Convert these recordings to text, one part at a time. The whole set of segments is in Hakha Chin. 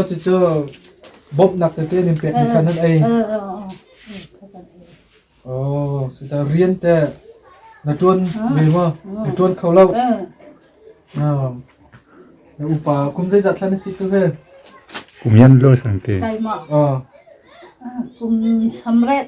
Cucu bawmhnak tete an in pekmi kha nan ei. Rian te na ṭuan ve maw? Na ṭuan kho lo. Na upa kum zeizat hlan na si tu ve? Kum yan lo sang te. Kum samret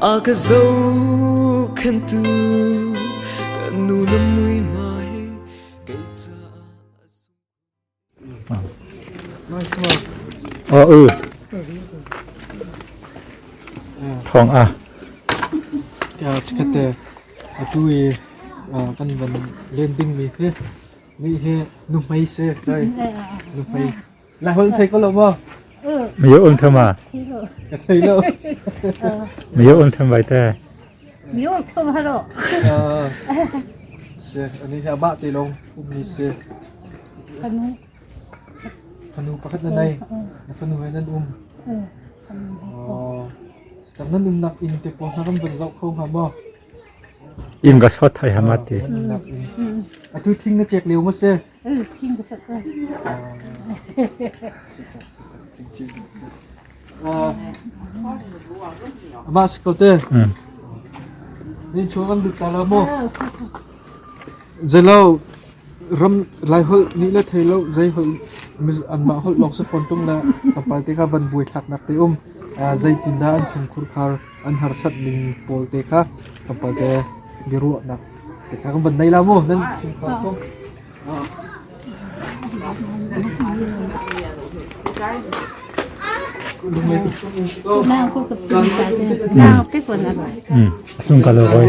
a ka zohkhentu ka nu na mui ma he kei ca a u thong a ya chikate atu i kan van len ding mi hi mi hi nu hmei se kai nu hmei Lai holh thei ko lo maw? Mayo um tham ma? Ka thei lo. Mayo um tham vai te. Mayo um tham halo. Se, ani hi aba te long umni se. Kanu. Fanu pakhat na nai. Na fanu he nan um. Oh. Tam nan um nak in te po na kan ban zau kho ha mo. In ga sot thai hamati. Nak in. Atu thing na chek leu ma se. Ama si ko te. Ni chu kan lut ta lo mo. Zelo ram lai hol ni la thei lo zai hol an ma hol long se phone tung la kapal te ka van vui thak nak te um zai tin da an chung khur khar an harsat ning pawl te kha kan pate biaruahnak te kha kan van nei la maw nan thinphang ko Sung kalo koi.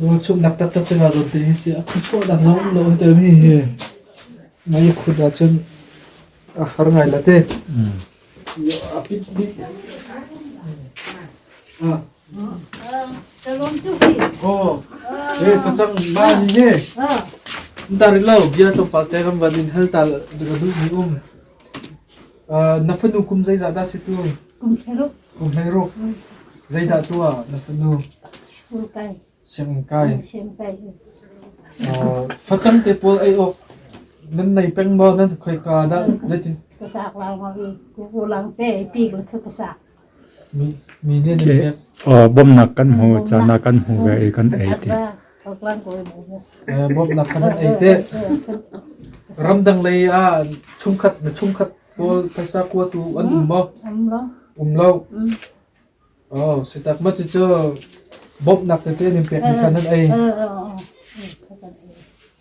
Ruachumhnak taktak cu kaa dawt ding a si. A khuachuahnak lawng um lo a timi hi mei a khut ahcun a har ngai la te. A pit dih. Ah. Calon tu hi. Oh. Eh facang ma ni ne. Ntarik lo bia to palte kan van in hal tal duh ni um. Na fanu kum zeizah dah si tu? Kum thleruk. Kum thleruk. Zeidah tuah na fanu? Sianginn kai. Sianginn kai. Sianginn kai. Facang te pawl ei awk nan nei peng maw nan khoi ka dah zeitin? Ka sak lang ma ku ku lang te pi ko ka sak. Bawmhnak kan hmu, caan ah kan hmu ve i kan ei ti. Bawmhnak kha nan ei te. Ramdang lei ah chungkhat mi chungkhat pawl phaisa kuatu an um maw? Um lo. Oh, sitak ma cucu bawmhnak tete nan pek ni kha nan ei.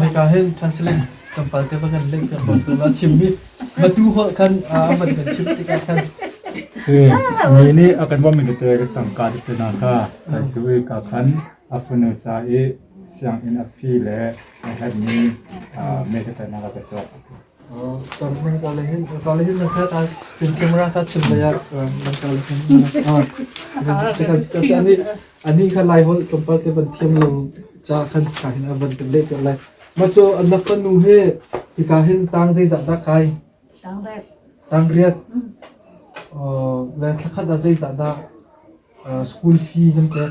Hika hin counseling tlawmpal te bak in leh kan bawk tlawma chimmi matu holh khan aman kan chim tikah khan Si, mi nih a kan bawmmi tete ka tangka tete hna kha kai siwi ka khan a funu ca i sianginn a fee le a herhmi meikatainak a ka cawk. Kan kawle hin kawle hin na hlat ah cin ṭem ra ta chim lei ah kan kawle hin ani ani kha lai holh kan pal te ban thiam lo ca khan ka hin a van kan leh te lai ma cho anak ka nu he hika hin tang zei zah da kai tang riat le thla khat ah zei zah da school fee nan pek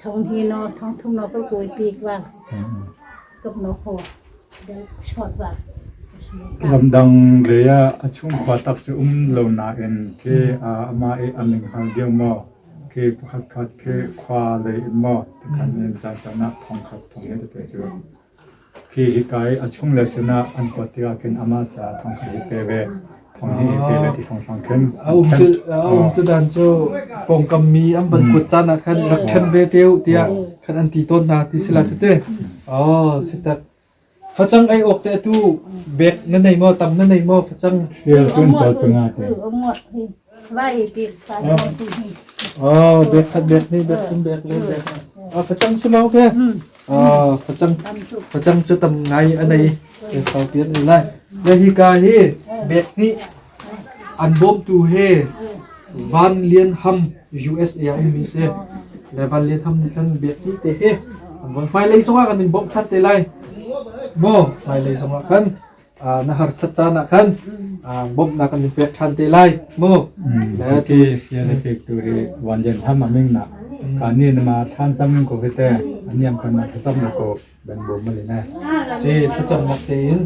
thong hi no thong thum no ka kui pi kwa kap no ho dal short ba ramdang le a chungkhua tak cu um lo na in ke a ama e aning hal deu mo ke pakhat khat ke khwa le in mo tikhan in chan tana thong khat thong he te cu Khi hikai a chung le sin ah an kuat tikah khin amah caah thong khat i pe ve. Thong hnih i pe ve ti hrawnghrang khin. A um cu a um tu dan cu pawngkam mi an van kuat caan ah khan rak ṭhen ve te u tiah khan an ti tawn hna ti si la cu te. Oh si tak. Facang ei awk te atu bek na nei maw tam na nei maw facang. Sial kun to tuna te. Bag khat bag hnih bag thum bag le bag facang si lo ke facang facang cu tam ngai a nei ke sau pian ni lai le hi ka hi bag hnih an bawmtu he van lian ham USA a mi se le van lian ham nih khan bag hnih te he an von hmailei zongah kan in bawmh than te lai maw hmailei zongah kan na harsat caan ah khan bawmhnak kan in pek ṭhan te lai mu le ti sia le pek tu hi wan jen ham aming na kan ni na ma thlan sam ko hi te aniam kan ma thasam na ko ben bom mali ne si thacham nak te in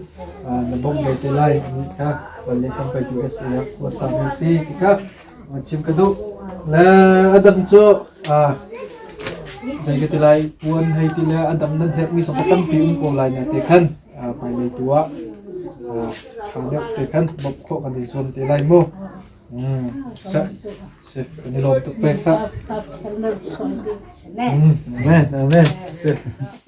na bom le te lai ni ka palle kam pai tu se ya ko sa mi si ki ka chim ka du le adam cho jai ke tilai puan hei tile adam nan hek mi so tam pi um ko lai na te khan hmailei tu ah ṭha deuh te khan bawmh khawh kan i zuam te lai mu. Mm, sa, si, kan i lawm tuk pek hlah. Amen, amen, si.